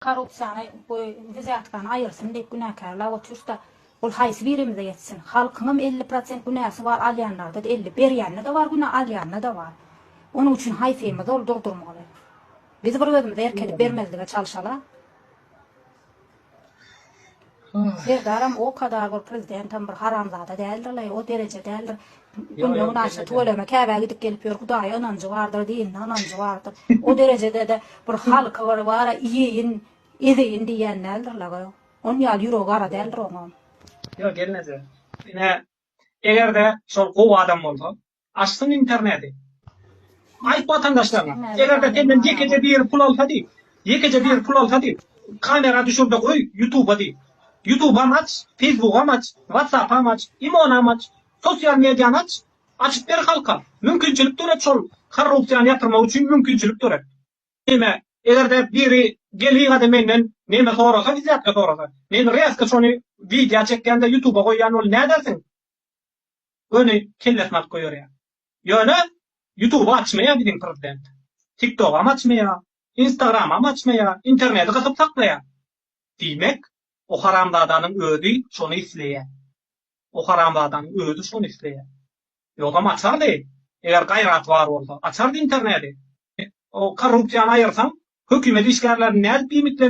Korrupsiýany we wizýatkany aýyrsyn diýip günäkärläp oturyşda ol haýsy birimize ýetsin. Halkyňam elli prosent günäsi bar alýanlarda-da elli berýände-de bar günä alýanda-da bar. Onuň üçin haýsymyz ol durdurmaly. Biz bir özümize erk edip bermezlige çalşala. Serdaram o kadar bir prezidentem bir haramzada däldir leý o dereje däldir günde günaşa tüweleme käbä gidip gelip ýör hudaýa ynanjy bardyr dinine ynanjy bardyr o derejedede bir halky bir bara iýeýin ezeýin diýýän däldir leý on ýaly ýüregi gara däldir oňam. Ýok gelneje ine egerde şol gowy adam bolsa Açsyn interneti. Aýt watandaşlaryňa. Eger-de senden ýekeje biri pul alsa diý. Ýekeje biri pul alsa diý. Kamera düşürde goý ýutuba diý. Ýutubam aç, feýsbugam aç, watsapam aç, imonam aç. Sosial mediany aç. Açyp ber halka. Mümkinçilik döret şol korrupsiýany ýatyrmak üçin mümkinçilik döret. Neme, eger-de biri gelýgada menden neme sorasa izzätge sorasa. Men rezko şony widýa çekýän-de ýutuba goýýan ol nädersiň? göni kellesini alyp goýberýär. Ýöne Ýutuby açmaýar biziň prezident. Tiktogam açmaýar, Instagramam açmaýar, interneti gysyp saklaýar. Diýmek, o haramzadanyň özi şony isleýär. O haramzadanyň özi şony isleýär. Ýogsam açardy, eger gaýraty bar bolsa, açardy interneti. O korrupsiýany aýyrsaň, hökümet işgärlerini nädip iýmitlendirýär?